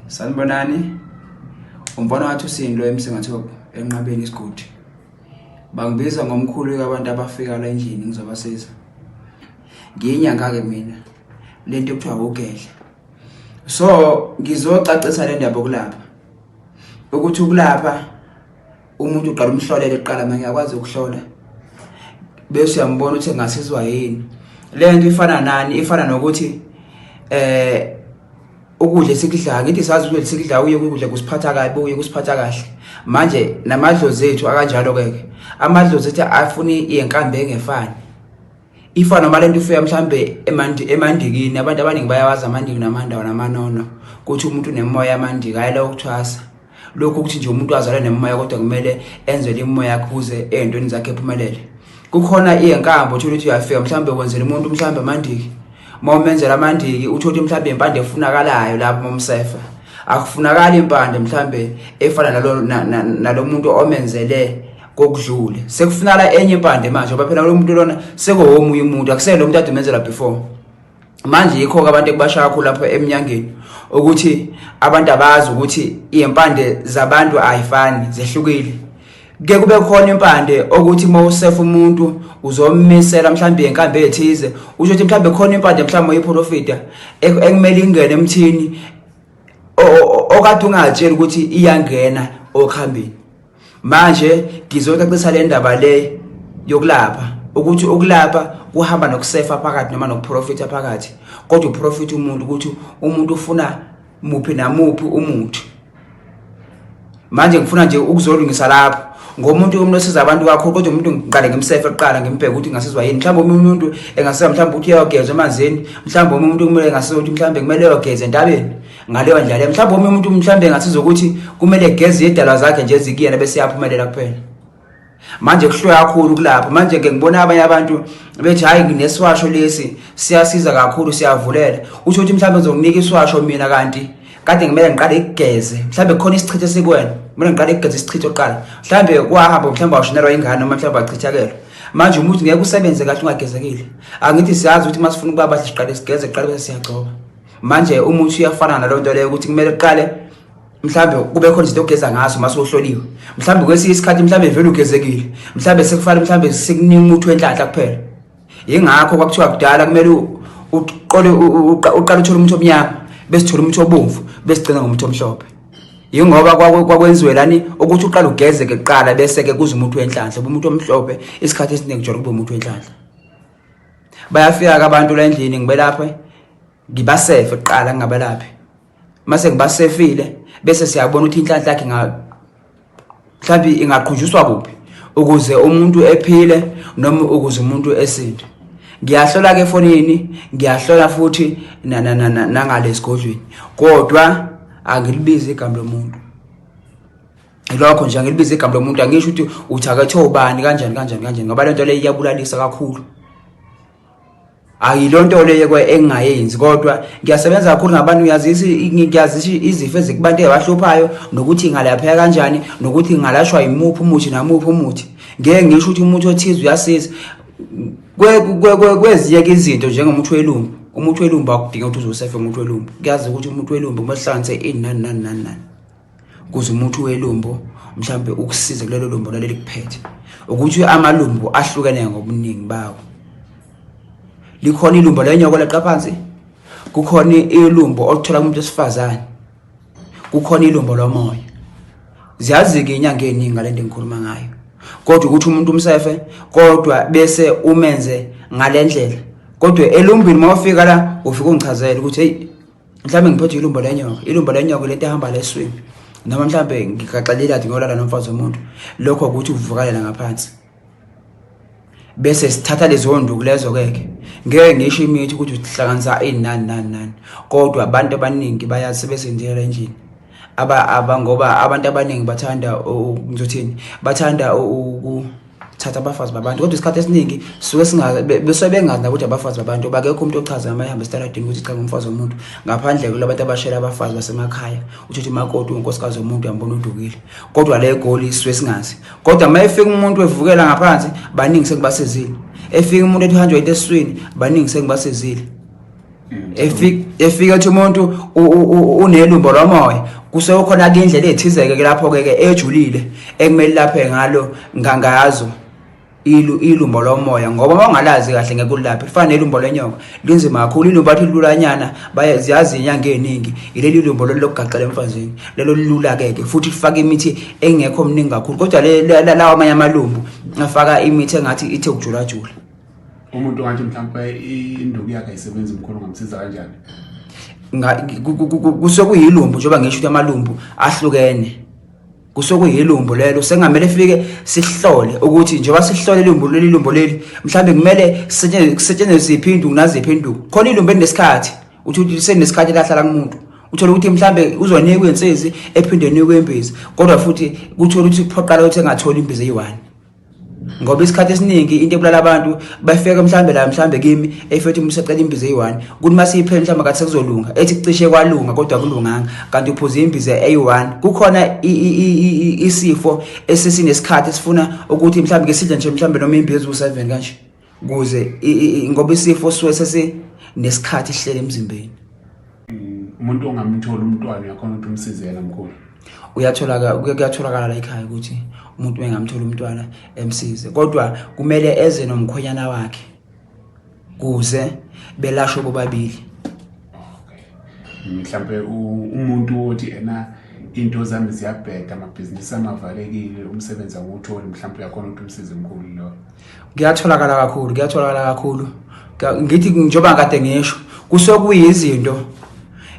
Sanibonani. Umfana wathi usindo emsingatho enqabeni isigodi. Bangibiza ngomkhulu kabantu abafika la endlini ngizobasiza. Ngiyinyanga ke mina. Lento kuthiwa ugedla. So ngizocacisa le ndaba kulapha. Ukuthi ukulapha umuntu uqala umhlolele kuqala manje akwazi ukuhlola bese uyambona ukuthi ngasizwa yini le nto ifana nani ifana nokuthi eh ukudla esikudlayo ngithi sazi ukuthi sikudlayo uye ukudla kusiphatha kabi uye kusiphatha kahle manje namadlozi ethu akanjalo ke ke amadlozi ethu afuni yenkambe engefani ifa noma lento ifika mhlambe emandi emandikini abantu abaningi bayawazi amandiki namandawo namanono ukuthi umuntu unemoya amandiki ayela ukuthwasa lokho ukuthi nje umuntu azalwe nemoya kodwa kumele enzele imoya yakhe ukuze ezintweni zakhe ephumelele kukhona iyenkambo uthola ukuthi uyafika mhlambe wenzela umuntu mhlambe amandiki uma umenzela amandiki uthola ukuthi mhlambe impande efunakalayo lapho momsefa akufunakali impande mhlambe efana nalo nalomuntu omenzele kokudlule sekufunala enye impande manje ngoba phela lo muntu lona sekowomunye umuntu akusele lo muntu adumezela before manje yikho-ke abantu ekubashaya kakhulu lapho emnyangeni ukuthi abantu abazi ukuthi iy'mpande zabantu ayifani zehlukile ke kube khona impande okuthi uma usefa umuntu uzomisela mhlawumbe yenkambe ethize usho ukuthi mhlawumbe khona impande mhlawumbe oyiprofita ekumele ingene emthini okade ungatsheli ukuthi iyangena okhambeni manje ngizoyicacisa le ndaba le yokulapha ukuthi ukulapha kuhamba nokusefa phakathi noma nokuprofitha phakathi kodwa uprofitha umuntu ukuthi umuntu ufuna muphi namuphi umuthi manje ngifuna nje ukuzolungisa lapho ngomuntu yomuntu osiza abantu kakhulu kodwa umuntu ngiqale ngimsefe kuqala ngimbheke ukuthi ngasizwa yini mhlawumbe omunye umuntu engasiza mhlawumbe ukuthi uyogeza emanzini mhlawumbe omunye umuntu kumele engasiza ukuthi mhlawumbe kumele eyogeza entabeni ngaleyo ndlela mhlawumbe omunye umuntu mhlawumbe engathiza ukuthi kumele egeze yedalwa zakhe nje ezikuyena bese yaphumelela kuphela manje kuhlwe kakhulu kulapho manje ke ngibona abanye abantu bethi hayi nginesiwasho lesi siyasiza kakhulu siyavulela usho ukuthi mhlawumbe ngizokunika isiwasho mina kanti kade ngimele ngiqale igeze mhlawumbe khona isichitho sikwena mina ngiqale igeze isichitho oqala mhlawumbe kwahamba mhlawumbe washonelwa ingane noma mhlawumbe wachithakelwa manje umuthi ngeke usebenze kahle ungagezekile angithi siyazi ukuthi masifuna ukuba bahle siqale sigeze qale bese siyagcoba manje umuthi uyafana nalo nto leyo ukuthi kumele kuqale mhlambe kube khona izinto ogeza ngaso mase uhloliwe mhlambe kwesinye isikhathi mhlambe vele ugezekile mhlambe sekufanele mhlambe sikuningi umuthi wenhlanhla kuphela yingakho kwakuthiwa kudala kumele uqole uqala uthole umuthi omnyama bese thola umuthi obomvu bese gcina ngomuthi omhlophe yingoba kwakwenziwe lani ukuthi uqala ugezeke kuqala bese ke kuze umuthi wenhlanhla umuntu omhlophe isikhathi esiningi jolo kube umuthi wenhlanhla bayafika abantu la endlini ngibelaphe ngibasefe kuqala ngingabelaphi mase ngibasefile bese siyabona ukuthi inhlanhla yakhe mhlawumbe ingaqhunjuswa kuphi ukuze umuntu ephile noma ukuze umuntu esinde ngiyahlola ke efonini ngiyahlola futhi nangale sigodlweni kodwa angilibizi igama lomuntu ilokho nje angilibize igama lomuntu angisho ukuthi uthakathe ubani kanjani kanjani kanjani ngoba lento le iyabulalisa kakhulu ayilonto le yekwe engayenzi kodwa ngiyasebenza kakhulu ngabantu ngiyazisa ngiyazisa izifo ezikubantu ezibahluphayo nokuthi ngalapheka kanjani nokuthi ngalashwa imuphi umuthi namuphi umuthi ngeke ngisho ukuthi umuntu othize uyasiza kwezinye ke izinto njengomuntu welumbu umuntu welumbu akudinga ukuthi uzosefe umuntu welumbu kuyazi ukuthi umuntu welumbu kumehlanganise ini nani nani nani nani kuze umuthi welumbo mhlambe ukusize kulelo lumbo laleli kuphethe ukuthi amalumbo ahlukene ngobuningi bawo likhona ilumbo lenyoko leqa phansi kukhona ilumbo oluthola kumuntu esifazane kukhona ilumbo lomoya ziyazi-ke inyanga eningi ngale nto engikhuluma ngayo kodwa ukuthi umuntu umsefe kodwa bese umenze ngale ndlela kodwa elumbini uma ufika la ufike ungichazele ukuthi heyi mhlawumbe ngiphethwe ilumbo lenyoka ilumbo lenyoka lento ehamba la eswini noma mhlawumbe ngigaxelela athi ngiyolala nomfazi womuntu lokho ukuthi uvukalela ngaphansi bese sithatha lezo nduku lezo keke ngeke ngisho imithi ukuthi uhlanganisa ini nani nani nani kodwa abantu abaningi bayasebenzela endlini aba aba ngoba abantu abaningi bathanda ngizothini bathanda uku thatha abafazi babantu kodwa isikhathi esiningi suke singabesuke bengazi nakuthi abafazi babantu bakekho umuntu ochaza noma ehambe esitaradini ukuthi cha ngumfazi womuntu ngaphandle kula bantu abashela abafazi basemakhaya uthethe imakoti unkosikazi womuntu yambona udukile kodwa le goli isuke singazi kodwa uma efika umuntu evukela ngaphansi baningi sekubasezile efika umuntu ethi uhanjwa into esiswini baningi sekubasezile efika ethi umuntu unelumbo lomoya kusekhona ke indlela ethizeke ke lapho ke ejulile ekumele laphe ngalo ngangazo ilu ilumbo lomoya ngoba mawungalazi kahle ngeke ulaphe fana nelumbo lenyoka linzima kakhulu ilumbo athi lulanyana bayaziyazi inyanga eningi ileli lumbo lokugaxela emfazini lelo lilula ke ke futhi lifaka imithi engekho mningi kakhulu kodwa lawa amanye amalumbu afaka imithi engathi ithe ukujulajula umuntu ongathi mhlawumbe induku yakhe ayisebenzi mkhulu ngamsiza kanjani kusuke kuyilumbu njengoba ngisho ukuthi amalumbu ahlukene kusuke kuyilumbu lelo sengamele fike sihlole ukuthi njengoba sihlole ilumbu leli lumbu leli mhlawumbe kumele kusetshenziswe ziphi induku naziphi induku khona ilumbu elinesikhathi uthi uthi senesikhathi lahlala kumuntu uthola ukuthi mhlambe uzonikwa insizi ephinde nikwe imbiza kodwa futhi kuthola ukuthi kuphoqala ukuthi engatholi imbiza eyi-one ngoba isikhathi esiningi into ebulala abantu bafika mhlambe la mhlambe kimi efethi umuntu usecela imbiza eyi-1 kuthi uma siyiphe mhlawumbe kathi sekuzolunga ethi kucishe kwalunga kodwa kulunganga kanti uphuze imbiza eyi-1 kukhona isifo esisinesikhathi esifuna ukuthi mhlawumbe ke sidle nje mhlawumbe noma imbiza eziwu-7 kanje kuze ngoba isifo suwe sesinesikhathi sihlele emzimbeni umuntu ongamthola umntwana uyakhona ukuthi umsize yena mkhulu uyatholakala kuyatholakala la ekhaya ukuthi umuntu bengamthola umntwana emsize kodwa kumele eze nomkhonyana wakhe kuze belashwe bobabili mhlambe umuntu othi ena into zami ziyabheda amabhizinisi amavalekile umsebenzi awutholi mhlawumbe uyakhona ukuthi umsize mkhulu loyo kuyatholakala kakhulu kuyatholakala kakhulu ngithi njengoba kade ngisho kusuke kuyizinto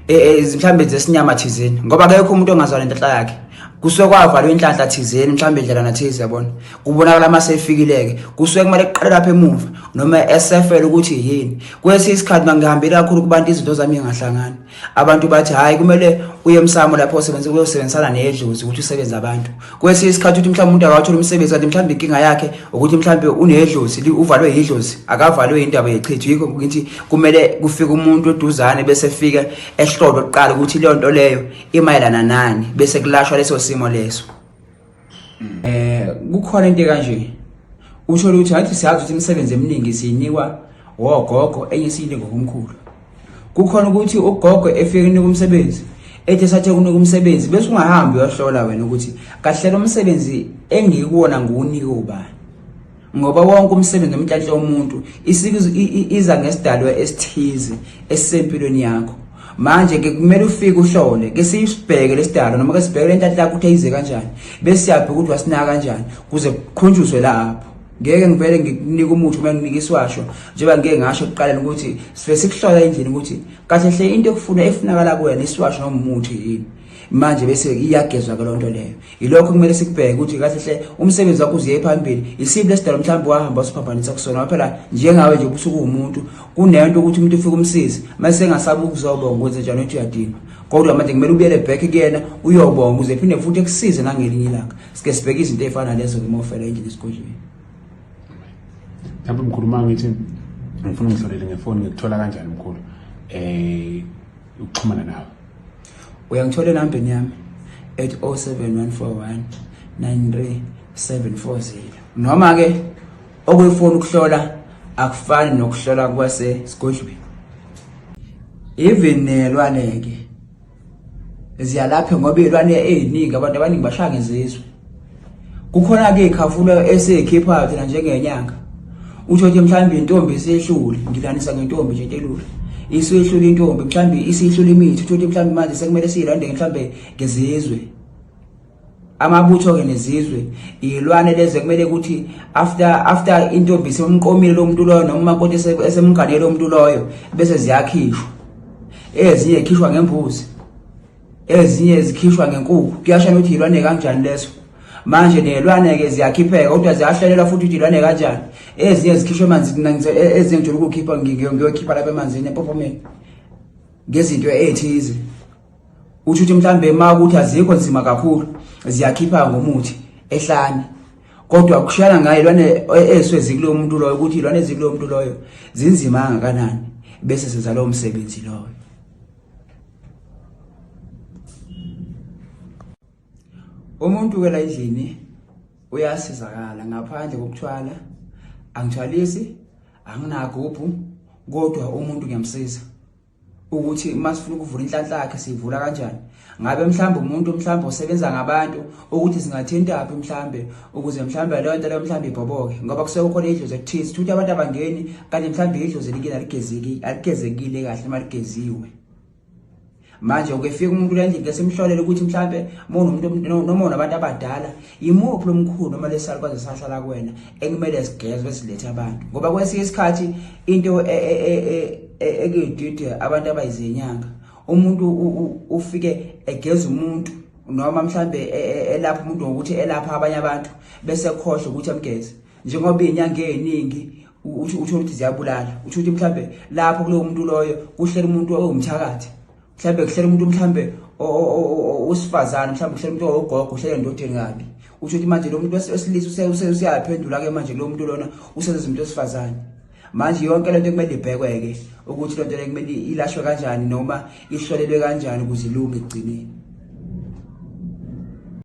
e, e, mhlawumbe zesinyama thizeni ngoba akekho umuntu ongazwani inhlanhla yakhe kusuke kwavalwe inhlanhla thizeni mhlawumbe indlela nathize yabona kubonakala uma sefikileke kusuke kumele kuqale lapha emuva noma esefele ukuthi yini kwesinye isikhathi uma ngihambile kakhulu kubantu izinto zami ingahlangani Abantu bathi hayi kumele uye emsamo lapho osebenza uyosebenzisana nedlozi ukuthi usebenze abantu. Kwesinye isikhathi uthi mhlawumbe umuntu akawathola umsebenzi kanti mhlawumbe inkinga yakhe ukuthi mhlawumbe unedlozi uvalwe yidlozi akavalwe indaba yechithu yikho ukuthi kumele kufike umuntu oduzane bese fika ehlolo kuqala ukuthi leyo nto leyo imayelana nani bese kulashwa leso simo leso. mm. eh kukhona into kanje usho ukuthi ngathi siyazi ukuthi imisebenzi eminingi siyinikwa wogogo enye siyinde ngokumkhulu kukhona ukuthi ugogo efike kunika umsebenzi ethi sathe kunika umsebenzi bese ungahambi uyohlola wena ukuthi kahle lo msebenzi engikuwona nguwunike ubani ngoba wonke umsebenzi omnhlanhla womuntu iza ngesidalwa esithize esisempilweni yakho manje ke kumele ufike uhlole ke siyibheke lesidalo noma ke sibheke lentatha lakho ukuthi ayize kanjani bese siyabheka ukuthi wasinaka kanjani kuze kukhunjuzwe lapho ngeke ngivele ngikunike umuthi uma nginika isiwasho njengoba ngike ngasho kuqaleni ukuthi sibe sikuhlola endlini ukuthi kahle hle into ekufuna efunakala kuwena isiwasho noma umuthi yini manje bese iyagezwa ke loo nto leyo yilokho kumele sikubheke ukuthi kahle hle umsebenzi wakho uziye phambili isiphi lesidalo mhlawumbe wahamba usiphambanisa kusona waphela njengawe nje ubusuku umuntu kunento ukuthi umuntu ufike umsizi mase sengasabi ukuzobonga ukwenze njani ukuthi uyadinga kodwa manje kumele ubuyele back kuyena uyobonga uze phinde futhi ekusize nangelinye ilanga sike sibheke izinto ezifana lezo ke mofela endlini esigodlweni lapho mkhulu uma ngithi ngifuna ungihlolele ngefoni ngikuthola kanjani mkhulu eh ukuxhumana nawe uyangithola enambeni yami ethi 07141 93740 noma ke okuyifuna ukuhlola akufani nokuhlola kwase sigodlweni even nelwane ke ziyalapha ngoba ilwane eziningi abantu abaningi bashaya ngezizwe kukhona ke khafula esekhipha thina njengenyanga usho ukuthi mhlawumbe intombi esehlule ngilanisa ngentombi nje telula isihlule intombi mhlawumbe isihlule imithi utho ukuthi mhlawumbe manje sekumele siyilandeke mhlawumbe ngezizwe amabutho ke nezizwe ilwane leze kumele ukuthi after after intombi semqomile lo muntu loyo noma umakoti esemganele lo muntu loyo bese ziyakhishwa ezinye khishwa ngembuzi ezinye zikhishwa ngenkukhu kuyasha ukuthi yilwane kanjani leso manje nelwane-ke ziyakhipheka kodwa ziyahlelelwa futhi ukuthi ilwane kanjani ezinye zikhishwa emanzini e-, ezinye ngijula ukukhipha ngiyokhipha lapha emanzini empopomeni ngezinto ethize uthi ukuthi mhlawumbe ma ukuthi azikho nzima kakhulu ziyakhipha ngomuthi ehlane kodwa kushiyana ngayo ilwane e-, eswe zikuloyo muntu loyo ukuthi ilwane ezikuloyo muntu loyo zinzima kangakanani bese senza lowo msebenzi loyo umuntu ukela endlini uyasizakala ngaphandle kokuthwala angithwalisi anginagubhu kodwa umuntu ngiyamsiza ukuthi uma sifuna ukuvula inhlanhla yakhe siyivula kanjani ngabe mhlawumbe umuntu mhlawumbe osebenza ngabantu ukuthi singathintaphi mhlawumbe ukuze mhlawumbe leyo nto leyo mhlawumbe ibhoboke ngoba kusuke kukhona idlozi ekuthize ukuthi abantu abangeni kanti mhlawumbe idlozi likile aligezekile kahle uma ligeziwe manje ukefika umuntu lendlela kesimhlolele ukuthi mhlambe monomuntu noma unabantu abadala yimuphi lomkhulu noma lesalukwaze sahlala kuwena ekumele sigezwe silethe abantu ngoba kwesinye isikhathi into e, e, e, ekuyidide abantu abayizenyanga umuntu ufike egeza umuntu noma mhlambe elapha umuntu ngokuthi elapha abanye abantu bese khohle ukuthi amgeze njengoba inyanga eziningi utsho ukuthi ziyabulala utsho ukuthi mhlawumbe lapho kulowo muntu loyo kuhlela umuntu owumthakathi mhlawumbe kuhlela umuntu mhlawumbe usifazane mhlawumbe kuhlela umuntu owogogo kuhlela endodeni kabi utsho ukuthi manje lo muntu wesilisa useyaphendula-ke manje kulowo muntu lona usenza izinto esifazane manje yonke lento kumele ibhekwe-ke ukuthi lento le kumele ilashwe kanjani noma ihlolelwe kanjani ukuze ilunge ekugcineni